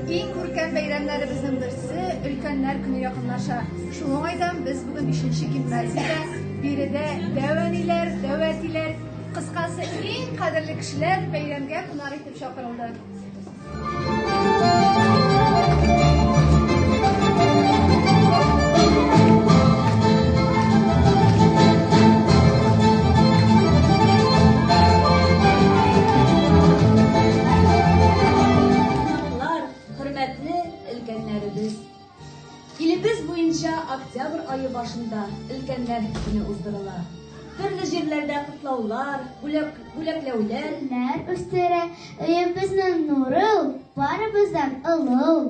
Иң күркәм бәйрәмнәребезнең берсе өлкәннәр көне якынлаша. Шул уңайдан без бүген бишенче гимназиядә биредә дәү әниләр, дәү әтиләр, кыскасы иң кадерле кешеләр бәйрәмгә кунак итеп чакырылды. Кунаклар, хөрмәтле өлкәннәребез! Илебез буенча октябрь ае башында Өлкәннәр көне уздырыла. Төрле җирләрдә котлаулар, бүләк, бүләкләүләр. Гөлләр үстерә өебезне нуры ул, барыбыздан олы ул.